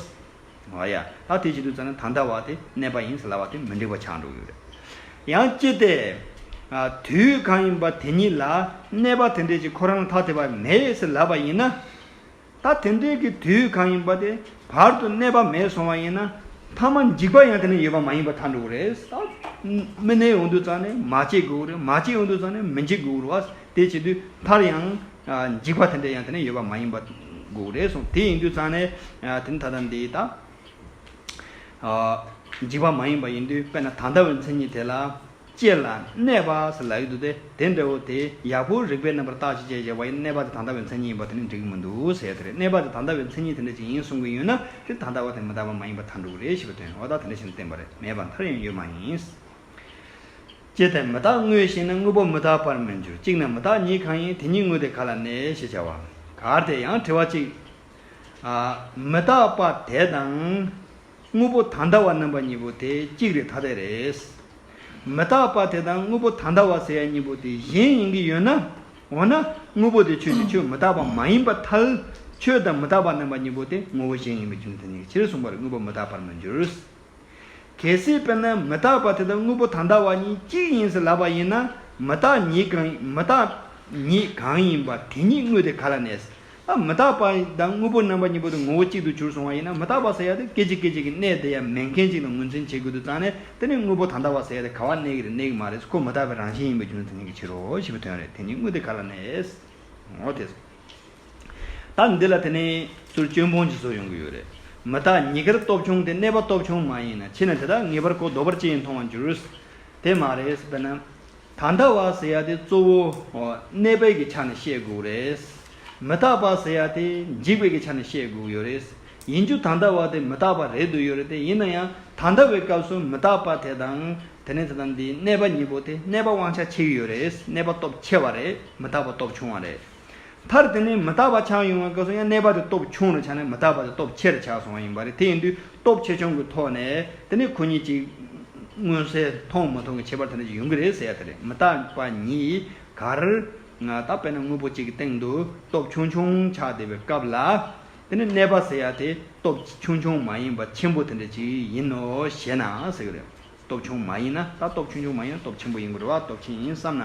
ང་ཡ་ཨ་དེ་བྱེད་དུ་བརྩམས་ན་ད་ལྟ་བ་དེ་གནས་པ་ཡིན་ཟེར་ལ་བ་དེ་མི་འགྲིག་པ་ཆགས་འགྲོ་གི་རེད། ཡང་ཅི་སྟེ། དུས་གང་ཡིན་པ་དེ་ཉིད་ལ་གནས་པ་དེ་འདྲས་ཀྱི་ཁོ་རང་ལ་ཐ་དད་པ་མེད་ཟེར་ལབ་པ་ཡིན་ན། ད་དེ་འདྲས་ཀྱི་དུས་གང་ཡིན་པ་དེ་བར་དུ་གནས་པ་མེད་སོང་བ་ཡིན་ན། ཐ་མ་འཇིག་པ་ཡང་དེ་ན་ཡོད་པ་མ་ཡིན་པར་ཐལ་འགྲོ་གི་རེད། མི་གནས་འོང་དུ་བརྩམས་ནས་མ་སྐྱེས་དགོས་རེད་མ་སྐྱེས་འོང་དུ་བརྩམས་ནས་མི་འཇིག་དགོས་རུ་བ་དེ་བྱེད་དུས་མཐར་ཡང། འཇིགས་པ་དེ་འདྲ་ཡང་དེ་ནས་ཡོད་པ་མ་ཡིན་པ་དགོས་རེད་གསུངས་དེ་ཡིན་དུས་ཙང་ནས་དེ་ནི་ད་ལྟ་འདི་ད་འཇིགས་པ་མ་ཡིན་པ་ཡིན་དུས་དཔེར་ན་ད་ལྟ་བའི་མཚན་ཉིད་དེ་ལ་སྐྱེས་ལ་གནས་པ་ཟེར་ལ་ཡོད་དུས་དེ་དེ་འདྲ་བོ་དེ་ཡག་པོ་རིགས་པའི་རྣམ་པར་བརྟག་ཅིག་ཅེས་བྱ་བ་ཡིན་ན་གནས་པ་དེ་ད་ལྟ་བའི་མཚན་ཉིད་ཡིན་པ་དེ་ནི་འགྲིག་གི་མི་འདུག་ཟེར་ཡ་དེ་རེད་གནས་པ་དེ་ད་ལྟ་བའི་མཚན་ཉིད་དེ་འདྲ་ཅིག་ཡིན་གསུང་གི་ཡོད་ན་དེ་ད་ལྟ་བ་དེ་མི་ད་པ་མ་ཡིན་པ་ད་འགྲོ་གི་རེད་ཞེས་པའི་དོན་ཨོ་ད་དེ་འདྲ་ཞིག་ནི་བསྟན་པ་རེད་མེད་པར་མཐར་ཡང་ཡོད་མ་ཡིན། ཅེས་ཏེ་མི་རྟག་དངོས་ཤེས་ན་དངོས་པོ་མི་རྟག་པར་མི་འགྱུར་གཅིག་ནས་མི་རྟག་ཉིད་གང་ཡིན་དེ་ཉིད་དངོས་དེ་ག་ལ་གནས་ཞེས་བྱ་བ། གར་དེ་ཡང་དྲི་བ་གཅིག། མི་རྟག་པ་དེ་དང། དངོས་པོ་ད་ལྟ་བ་རྣམ་པ་གཉིས་པོ་དེ་གཅིག་རེད་ཐ་དད་རེད། མི་རྟག་པ་དེ་དང་དངོས་པོ་ད་ལྟ་བ་ཟེར་ཡ་གཉིས་པོ་དེ་གཞན་ཡིན་གྱི་ཡོད་ན། འོ་ན་དངོས་པོ་དེ་ཆོས་ཀྱི་ཆོས་མི་རྟག་པ་མ་ཡིན་པར་ཐལ། ཆོས་དང་མི་རྟག་པ་རྣམ་པ་གཉིས་པོ་དེ་ངོ་བོ་གཞན་ཡིན་པའི་རྒྱུ་མཚན་ཉིད་ཀྱི་ཕྱིར་གསུངས་པར་དངོས་པོ་མི་རྟག་པར་མི་འགྱུར། གལ་སྲིད་དཔེར་ན་མི་རྟག་པ་དེ་དང་དངོས་པོ་དང་འདའ་བ་གཉིས་གཅིག་ཡིན་ཟེར་ལབ་པ་ཡིན་ན་མི་རྟག་ཉིད་གང་མི་རྟག་ཉིད་གང་ཡིན་པ་དེ་ཉིད་དངོས་དེ་ག་ལ་གནས། ཨ་མི་རྟག་པ་དང་དངོས་པོ་རྣམ་པ་གཉིས་པོ་དེ་ངོ་བོ་གཅིག་ཏུ་གྱུར་སོང་བ་ཡིན་ན་མི་རྟག་པ་ཟེར་ཡ་དེ་སྐད་ཅིག་སྐད་ཅིག་གི་གནས་དེ་ཡང་མེད་མཁན་གཅིག་དང་ངོས་འཛིན་བྱེད་དགོས་དུ་ཙང་ནས་དེ་ནི་དངོས་པོ་དང་འདའ་བ་ཟེར་ཡ་དེ་ག་བ་གནས་ཀྱི་རེད་གནས་ཀྱི་མ་རེད་ཁོ་མི་རྟག་པའི་རང་བཞིན་ཡིན་པའི་རྒྱུ་མཚན་ཡིན་གྱི་ཕྱིར་རོ་ཞེས་པའི་དོན་རེད་དེ་ཉིད་དངོས་དེ་ག་ལ་གནས། ད་འདི་ལ་དེ་ནས་ཚུར་སྐྱོན་སྤོང་བྱེད་སྲོལ་ཡོང་གི་ཡོད་རེད་མི་དག་ཉི་སྐར་སྟོབས་ཆུང་དེ་གནས་པ་སྟོབས་ཆུང་མ་ཡིན་ན་ཕྱིན་ན་དེ་དག་ངེས་པར་གོ་ལྡོག་པར་ཅི་ཡིན་མཐོང་བར་འགྱུར། དེ་མ་རེད་དཔེར་ན། ད་ལྟ་བ་ཟེར་ཡ་དེ་གཙོ་བོ་གནས་པའི་གི་ཆ་ནས་བཤད་དགོས་རེད། མི་དག་པ་ཟེར་ཡ་དེ་འཇིག་པའི་གི་ཆ་ནས་བཤད་དགོས་ཡོད་རེད། ཡིན་རྒྱུ་ད་ལྟ་བ་དེ་མི་དག་པ་རེད་འདོད་ཡོད་རེད་དེ་ཡིན་ན་ཡང་ད་ལྟ་བའི་སྐབས་སུ་མི་དག་པ་དེ་དང་དེ་ནས་ད་ལྟ་འདི་གནས་པ་གཉིས་པོ་དེ་གནས་པ་དབང་ཆ་ཆེ་གི་ཡོད་རེད་གནས་པ་སྟོབས་ཆེ་བ་རེད་མི་རྟག་པ་སྟོབས་ཆུང་བ་རེད། མཐར་དེ་ནས་མི་རྟག་པ་ཆགས་ཡོང་བའི་སྐབས་སུ་ཡང་གནས་པ་དེ་སྟོབས་ཆུང་རུ་ཆགས་ནས་མི་རྟག་པ་དེ་སྟོབས་ཆེ་རུ་ཆགས་སོང་བ་ཡིན་པ་རེད་དེ་ཡིན་དུས་སྟོབས་ཆེ་ཆུང་གི་ཐོག་ནས་དེ་ནས་ཁོ་གཉིས་ཀྱི་མངོན་གསལ་མཐོང་མ་མཐོང་གི་ཁྱད་པར་དེ་འདྲ་ཞིག་ཡོང་གི་རེད་ཟེར་ཡ་དེ་རེད་མི་རྟག་པ་གཉིས་གར་ང་ད་དཔེར་ན་དངོས་པོ་གཅིག་གི་སྟེང་དུ་སྟོབས་ཆུང་ཆུང་ཆགས་བསྡད་པའི་སྐབས་ལ་དེ་ནས་གནས་པ་ཟེར་ཡ་དེ་སྟོབས་ཆུང་ཆུང་མ་ཡིན་པ་ཆེན་པོ་དེ་འདྲ་ཞིག་ཡིན་ནོ་ཞེ་ན་ཟེར་གི་རེད། སྟོབས་ཆུང་མ་ཡིན་ན་ད་སྟོབས་ཆུང་ཆུང་མ་ཡིན་ན་སྟོབས་ཆེན་པོ་ཡིན་དགོས་རེད་བ་སྟོབས་ཆེན་ཡིན་བསམ་ན།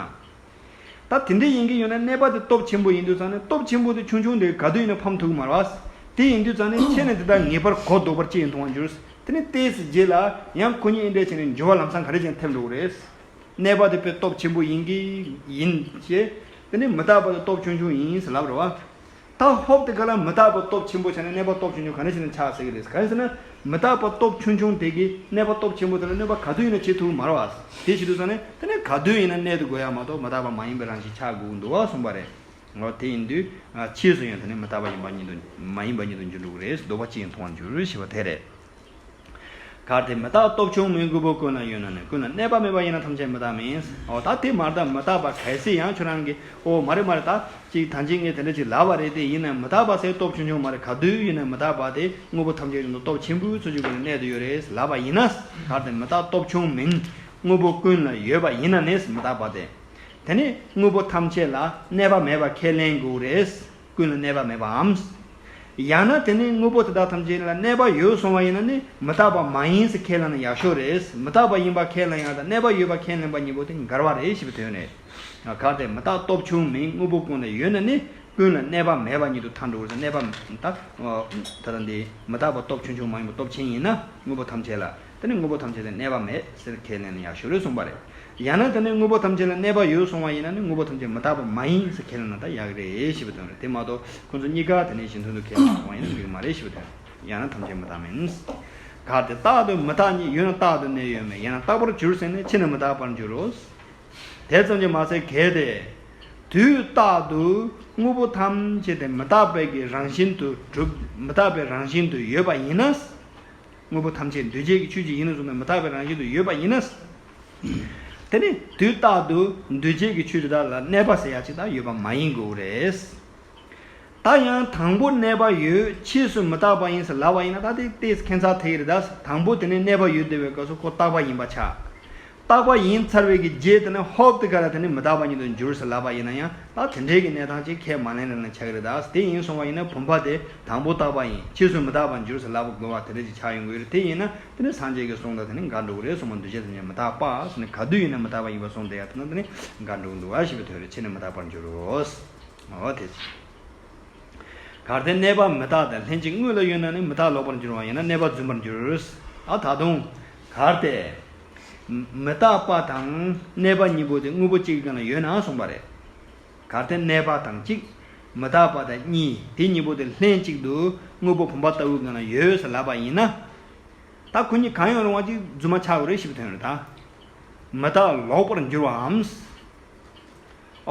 ད་དེ་འདྲས་ཡིན་གྱི་ཡོད་ན་གནས་པ་དེ་སྟོབས་ཆེན་པོ་ཡིན་དུས་ཙང་ནས་སྟོབས་ཆེན་པོ་དེ་ཆུང་ཆུང་དེ་ག་དུས་ཡིན་ན་ཕམ་ཐུག་གི་མ་རེད་བ། དེ་ཡིན་དུས་ཙང་ནས་ཁྱེད་ནས་དེ་དག་ངེས་པར་གོ་ལྡོག་པར་ཅི་ཡིན་མཐོང་བར་འགྱུར། དེ་ནས་བལྟས་ཚེ་རྗེས་ལ་ཡང་སྐུ་ཉིད་འདྲས་བྱས་ནས་འགྱུར་བ་ལམ་སང་ག་རེ་ཅན་ཐེབས་འགྲོ་གི་རེད། གནས་པ་དེ་དཔེ་སྟོབས་ཆེན་པོ་ཡིན་གྱི་ཡིན་ཞེས། དེ་ནས་མི་རྟག་པ་དེ་སྟོབས་ཆུང་ཆུང་ཡིན་ཟེར་ལབ་རེད་བ། དང་ཧོབ་དེ་ག་ལ་མི་རྟག་པའི་སྟོབས་ཆེན་པོ་ཆགས་ནས་གནས་པ་སྟོབས་ཆུང་ཆུང་ག་ནས་བྱུང་ནས་ཆགས་ཟེར་གྱི་རེད་ག་ཟེར་ན་མི་རྟག་པ་སྟོབས་ཆུང་ཆུང་དེ་གིས་གནས་པ་སྟོབས་ཆེན་པོ་དེ་ལ་གནོད་པ་ག་དུས་ཡིན་ན་བྱེད་ཐུབ་མར་བ་དེ་བྱེད་ཐུབ་སོང་ནས་དེ་ནས་ག་དུས་ཡིན་ན་གནས་ཐུབ་དགོས་ཡ་མ་གཏོགས་མི་རྟག་པ་མ་ཡིན་པའི་རང་བཞིན་ཆགས་དགོས་ཀྱི་འདུག་བ་གསུངས་པ་རེད། ངོ་དེ་ཡིན་དུས་ཕྱིས་སུ་ཡང་དེ་ནི་མི་རྟག་པ་ཡིན་པ་ཉིད་དུ་མ་ཡིན་པ་ཉིད་དུ་འགྱུར་འགྲོ་གི་རེད་ཟློ་བ་གཅིག་ཡང་མཐོང་བར་འགྱུར་ཞེས་པ་དེ་རེད། གར་དེ་མི་རྟག་སྟོབས་ཆུང་ངུའི་དངོས་པོ་ཀུན་ལ་ཡོད་ན་ནི་ཀུན་ལ་གནས་པ་མེད་པ་ཡིན་ན་ཐམས་ཅད་མི་རྟག་མིན། འོ་ད་དེ་མ་རྟག་མི་རྟག་པ་གལ་སྲིད་ཡང་ཁྱོད་རང་གིས་ཨོ་མ་རེད་མ་རེད་ད་ཅིག་ད་ཅིག་ངས་དེ་འདྲ་ཅིག་ལབ་པ་རེད་དེ་ཡིན་ན་མི་རྟག་པ་སའི་སྟོབས་ཆུང་ཆུང་མ་རེད་ག་དུས་ཡིན་ན་མི་རྟག་པ་དེ་དངོས་པོ་ཐམས་ཅད་རིང་དུ་སྟོབས་ཆེན་པོའི་ཚུལ་གྱིས་ཀུན་ལ་གནས་དུ་ཡོད་རེད་ལབ་པ་ཡིན་ན། གར་དེ་མི་རྟག་སྟོབས་ཆུང་མིན་དངོས་པོ་ཀུན་ལ་ཡོད་པ་ཡིན་ན་ནི་མི་རྟག་པ་དེ། དེ་ནི་དངོས་པོ་ཐམས་ཅད་ལ་གནས་པ་མེད་པ་ཁས་ལེན་དགོས་རེད། ཀུན་ལ་གནས་པ་མེད་པའམ། ཡང་ན་དེ་ནི་དངོས་པོ་དེ་དག་ཐམས་ཅད་ལ་གནས་པ་ཡོད་སོང་བ་ཡིན་ན་ནི་མི་རྟག་པ་མ་ཡིན་ཟེར་ཁས་བླངས་ན་ཡག་ཤོས་རེད། མི་རྟག་པ་ཡིན་པ་ཁས་བླངས་ཡང་དང་གནས་པ་ཡོད་པ་ཁས་ལེན་པ་གཉིས་པོ་དེ་འགལ་བ་རེད་ཞེས་པའི་དོན་རེད། གལ་ཏེ་མི་རྟག་སྟོབས་ཆུང་མིན་དངོས་པོ་ཀུན་ལ་ཡོད་ན་ནི་ཀུན་ལ་གནས་པ་མེད་པ་ཉིད་དུ་ཐལ་འགྲོ་བར་གནས་པ། ད་ལྟ། མི་རྟག་པ་སྟོབས་ཆུང་ཆུང་མ་ཡིན་པར་སྟོབས་ཆེན་ཡིན་ན་དངོས་པོ་ཐམས་ཅད་ལ། དེ་ནི་དངོས་པོ་ཐམས་ཅད་ལས་གནས་པ་མེད་ཟེར་ཁས་ལེན་ནི་ཡག་ཤོས་རེད་གསུངས་པ་རེད། ཡང་ན་དེ་ནི་དངོས་པོ་ཐམས་ཅད་ལ་གནས་པ་ཡོད་གསུངས་བ་ཡིན་ན་ནི་དངོས་པོ་ཐམས་ཅད་མི་རྟག་པ་མ་ཡིན་ཟེར་ཁས་ལེན་ན་ད་ཡག་རེད་ཞེས་པའི་དོན་རེད་དེ་མ་གཏོགས་ཁོང་ཚོ་གཉིས་ཀ་དེ་ནས་གཞི་མཐུན་དུ་ཁས་ལེན་གསུངས་བ་ཡིན་ན་འགྲིག་མ་རེད་ཞེས་པའི་དོན་རེད། ཡང་ན་ཐམས་ཅད་མི་རྟག་མིན། ག་དེ་རྟག་དང་མི་རྟག་གཉིས་ཡོད་ན་རྟག་ཏུ་གནས་ཡོད་མེད་ཡང་ན་རྟག་པར་གྱུར་ཟེར་ནས་ཕྱི་ནས་མི་རྟག་པར་འགྱུར་རོ། དེ་ཙམ་གྱིས་མ་ཚད་གལ་ཏེ། དུས་རྟག་ཏུ་དངོས་པོ་ཐམས་ཅད་དེ་མི་རྟག་པའི་གི་རང་བཞིན་དུ་གྲུབ་མི་རྟག་པའི་རང་བཞིན་དུ་ཡོད་པ་ཡིན་ན། དངོས་པོ་ཐམས་ཅད་འདུས་བྱས་ཀྱི་ཆོས་ཅིག་ཡིན་ནོ་གསུངས་པས་མི་རྟག་པའི་རང་བཞིན་དུ་ཡོད་པ་ཡིན་ན། དེ་ནི་དུས་རྟག་ཏུ་འདུས་བྱས་ཀྱི་ཆོས་དེ་དག་ལ་གནས་པ་ཟེར་ཡ་གཅིག་དག་ཡོད་པ་མ་ཡིན་དགོས་པོ་རེད། ད་ཡང་དང་པོ་གནས་པ་ཡོད་ཕྱིས་སུ་མི་རྟག་པ་ཡིན་ཟེར་ལབ་པ་ཡིན་ན་ད་དེ་ལྟའི་ཁྱད་མཚར་དེ་ཡི་རེད་ད། དང་པོ་དེ་ནི་གནས་པ་ཡོད་བདེ་བའི་སྐབས་སུ་ཁོ་རྟག་པ་ཡིན་པ་ཆགས། རྟག་པ་ཡིན་ཚར་བའི་གི་རྗེས་དེ་ནས་ཧོབ་ཏི་ཀ་ར་དེ་ནི་མི་རྟག་པ་ཉིད་དུ་འགྱུར་ཟེར་ལབ་པ་ཡིན་ན་ཡང་དག་དེ་འདྲའི་གི་གནས་སྟངས་ཅིག་ཁས་མ་ལེན་རན་ལ་ཆག་གི་རེད་དཱ་དེ་ཡིན་སོང་བ་ཡིན་ན་བུམ་པ་དེ་དང་པོ་རྟག་པ་ཡིན་ཕྱིས་སུ་མི་རྟག་པར་འགྱུར་ཟེར་ལབ་པ་དགོས་བ་དེ་འདྲ་ཅིག་ཆག་ཡོང་གི་རེད་དེ་ཡིན་ན་དེ་ནི་སངས་རྒྱས་ཀི་གསུང་དང་དེ་ནི་འགལ་འགྲོ་གི་རེད་སོང་བ་འདུ་བྱེད་ཐམས་ཅད་མི་རྟག་པ་སོ་ནི་ག་དུས་ཡིན་ན་མི་རྟག་པ་ཡིན་བ་སོང་དེ་ཡང་དེ་ན་དེ་ནི་འགལ་འགྲོ་གི་འདུ་བ་ཞེས་པའི་དོན་རེད་ཕྱིས་ནི་མི་རྟག་པར་འགྱུར་རོ། འོ་དེ་ཅི། གར་དེ་གནས་པ་མི་རྟག་དང་ལྷན་ཅིག་དངོས་ལ་ཡོད་ན་ནི་མི་རྟག་ལོག་པར་འགྱུར་བ་ཡིན་ན་གནས་པ་རྫུན་པར་འགྱུར། ད་དུང། གར་དེ། མི་རྟག་པ་དང་གནས་པ་གཉིས་པོ་དེ་དངོས་པོ་གཅིག་གི་སྟེང་ལ་ཡོད་ན་གསུངས་པ་རེད། གར་དེ་གནས་པ་དང་གཅིག། མི་རྟག་པ་དང་གཉིས་དེ་གཉིས་པོ་དེ་ལྷན་ཅིག་ཏུ་དངོས་པོ་བུམ་པ་ལྟ་བུའི་སྟེང་ལ་ཡོད་ཟེར་ལབ་པ་ཡིན་ན། ད་གུ་གཉིས་གང་ཡང་རུང་བ་གཅིག་རྫུན་མ་ཆགས་པ་རེད་ཞེས་པའི་དོན་རེད་ད། མི་རྟག་ལོག་པར་འགྱུར་བའམ།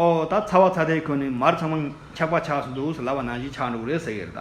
ཨོ་ད་ཚ་བ་ཚ་ཐལ་ཁོ་ནས་མར་ཚང་མ་འཁྱག་པ་ཆགས་སུ་འདུག་ཟེར་ལབ་པ་ནང་བཞིན་ཆགས་འགྲོ་གི་རེད་ཟེར་གི་རེད་ད།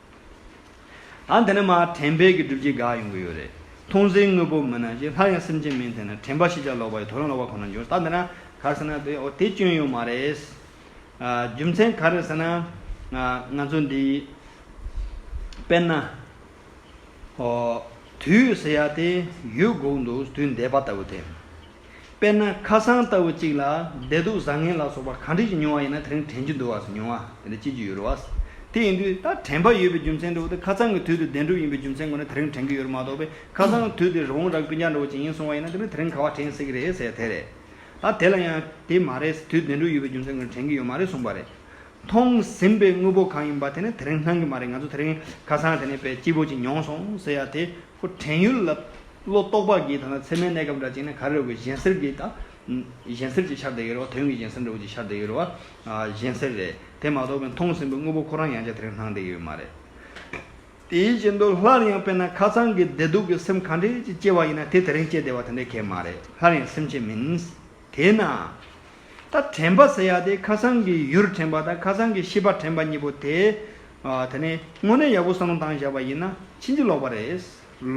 ད་དེ་ནི་མ་དྲན་པས་ཀྱི་སྒྲུབ་བྱེད་འགག་ཡོང་གི་ཡོད་རེད། མཐོང་ཚེ་དངོས་པོ་མིན་ན་ཞིག་སླར་ཡང་སེམས་ཅན་མིན་ཐལ་ན་དྲན་པ་ཤེས་བྱ་ལོག་པ་ཡི་ཐོ་རངས་ལོག་པ་ཁོ་ན་འབྱུང་ད་འདི་ན་གར་ཟེར་ན་དེ་འོ་དེ་སྐྱོན་ཡོད་མ་རེད། རྒྱུ་མཚན་ག་རེད་ཟེར་ན། ང་ཚོ་འདི། དཔེར་ན། དུས་ཟེར་ཡ་དེ་ཡོད་དགོས་ཀྱི་འདུག་དུས་འདས་པ་ལྟ་བུ་དེ། དཔེར་ན་ཁ་སང་ལྟ་བུ་གཅིག་ལ་བདེ་སྡུག་བཟང་ངན་ལ་སོགས་པ་གང་འདྲིས་ཀྱིས་མྱོང་བ་ཡིན་ན་དེ་རིང་དྲན་རྒྱུ་འདུག་བ་སོགས་མྱོང་བ་དེ་འདྲ་ཅི་ཅི་ཡོད་རུང་བ། དེ་ཡིན་དུས་ད་དྲན་པ་ཡོད་པའི་རྒྱུ་མཚན་འདྲ་བོ་དེ་ཁ་ཚང་གི་དུས་དེ་བདེན་གྲུབ་ཡིན་པའི་རྒྱུ་མཚན་ཁོ་ནས་དེ་རིང་དྲན་གྱི་ཡོད་རུང་མ་གཏོགས་པས་ཁ་སང་གི་དུས་དེ་རི་བོང་རྭ་ཀུན་ཀྱང་འདྲ་བོ་ཅིག་ཡིན་སོང་བ་ཡིན་ན་དེ་ནི་དེ་རིང་ག་བ་དྲན་སྲིད་ཀྱི་རེད་ཟེར་དེ་རེད། ད་དེ་ལ་ཡང་དེ་མ་རེད་དུས་བདེན་གྲུབ་ཡོད་པའི་རྒྱུ་མཚན་ཁོ་ནས་དྲན་གྱི་ཡོད་མ་རེད་གསུངས་པ་རེད། མཐོང་ཟིན་པའི་དངོས་པོ་གང་ཡིན་པ་དེ་ནི་དེ་རིང་སྣང་གི་མ་རེད་ང་ཚོ་དེ་རིང་ཁ་སང་དེ་ནས་དཔེ་སྐྱིད་པོ་ཅིག་མྱོང་སོང་ཟེར་ཡ་དེ་ཁུ་བྲན་གཡུ་ལ་ལོ་ཏོག་པགས་ཀྱིས་དང་ན་ཚེར་མའི་གནས་སྐབས་འདྲ་བཅིངས་ནས་གར་རེ་བའི་གཞན་སེར་གྱིས་དང། གཞན་སེར་གྱི་ཆར་དེ་ཡོད་རེ་བ་དོན་གྱི་གཞན་སེར་འདྲ་བོ་ཅིག་ཆར་དེ་ཡོད་རེ་བ། གཞན་སེར་རེད། དེ་མ་གཏོགས་པའི་མཐོང་ཟིན་པའི་དངོས་པོ་ཁོ་རང་ཡང་བྱ་དེ་རིང་སྣང་བསྡད་ཡོད་མ་རེད། དེའི་རྗེས་མདོར་སླར་ཡང་དཔེར་ན་ཁ་ཚང་གི་བདེ་སྡུག་གི་སེམས་ག་འདྲས་ཅིག་སྐྱེ་བ་ཡིན་ན་དེ་དེ་རིང་སྐྱེས་བསྡད་པ་དེ་འདྲའི་གལ་མ་རེད་སླར་ཡང་སེམས་ཅན་མིན། དེས་ན། ད་དྲན་པ་ཟེར་ཡག་དེ་ཁ་སང་གི་ཡུར་དྲན་པ་དང་ཁ་སང་གི་ཤི་བ་དྲན་པ་གཉིས་པོ་དེ། དེ་ནི་དངོས་གནས་ཡག་པོ་གསང་སྟངས་བཞག་པ་ཡིན་ན་ཕྱིན་ཅི་ལོག་པ་རེད།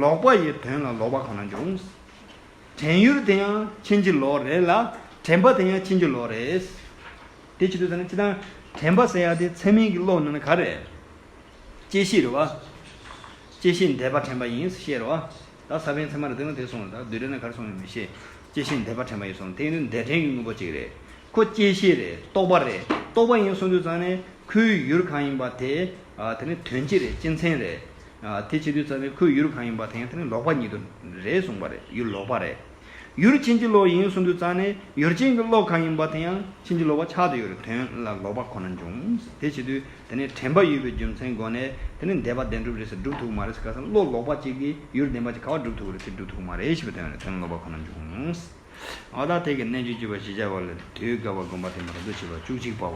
ལོག་པ་ཡི་དོན་ལ་ལོག་པ་གང་ན་འབྱུང། དྲན་ཡུར་དེ་ཡང་ཕྱིན་ཅི་ལོག་རེད་ལ་དྲན་པ་དེ་ཡང་ཕྱིན་ཅི་ལོག་རེད། དེ་ཅི་དུས་ཟེར་ན་སྤྱི་དང། དྲན་པ་ཟེར་ཡག་དེ་ཚད་མིན་གྱི་བློ་ཡིན་ན་ག་རེད། དཔྱད་གཞིར་བ། དཔྱད་གཞིར་འདས་པ་དྲན་པ་ཡིན་ཞེས་རེད་བ། ད་ས་པའི་མཚན་མ་རེད་དེ་ནས་དེ་སོང་ལ་ད་བདུད་རེད་ན་གར་སོང་ཡང་མི་ཤེས། སྐྱེ་ཤི་འདས་པ་དྲན་པ་ཡིན་སོང་དེ་ནི་འདས་དྲན་གྱི་དངོས་པོ་གཅིག་རེད། ཁོ་སྐྱེ་ཤི་རེད་རྟོག་པ་རེད་རྟོག་པ་ཡིན་སོང་དུས་ཙང་ནི་ཁོའི་ཡུལ་གང་ཡིན་པ་དེ་དེ་ནི་དོན་སྤྱི་རེད་སྤྱི་མཚན་རེད། དེ་བྱེད་དུས་ཙང་ནི་ཁོའི་ཡུལ་གང་ཡིན་པ་དེ་ཡང་དེ་ནི་ལོག་པ་ཉིད་དུ་རེད་གསུངས་པ་རེད་ཡུལ་ལོག་པ་རེད། ཡུལ་ཕྱིན་ཅི་ལོག་ཡིན་གསུངས་དུས་རྩ་ནས་ཡུལ་ཕྱིན་གྱི་ལོག་གང་ཡིན་པ་དེ་ཡང་ཕྱིན་ཅི་ལོག་པ་ཆགས་དུས་ཡོད་པའི་དོན་ལ་ལོག་པ་ཁོ་ན་འབྱུང། དེ་བྱེད་དུས་དེ་ནི་དྲན་པ་ཡོད་པའི་རྒྱུ་མཚན་སྒོ་ནས་དེ་ནི་འདས་པ་བདེན་གྲུབ་རེད་ཟེར་སྒྲུབ་ཐུག་མ་རེད་ཟེར་ག་ས་བློ་ལོག་པ་གཅིག་གིས་ཡུལ་བདེན་པ་ཅིག་ག་བ་སྒྲུབ་ཐུག་རེད་ཚེ་སྒྲུབ་ཐུག་མ་རེད་ཞེས་པའི་དོན་ལ་དོན་ལ་ལོག་པ་ཁོ་ན་འབྱུང། ཨོ་ད་ཐེག་གི་གནད་བཅུ་བཅུ་པ་ཞེས་བྱ་བ་ལས་དུས་དགའ་བ་བསྒོམ་པ་དེ་མ་རྡོ་ཆེ་བ་བཅུ་གཅིག་པའོ།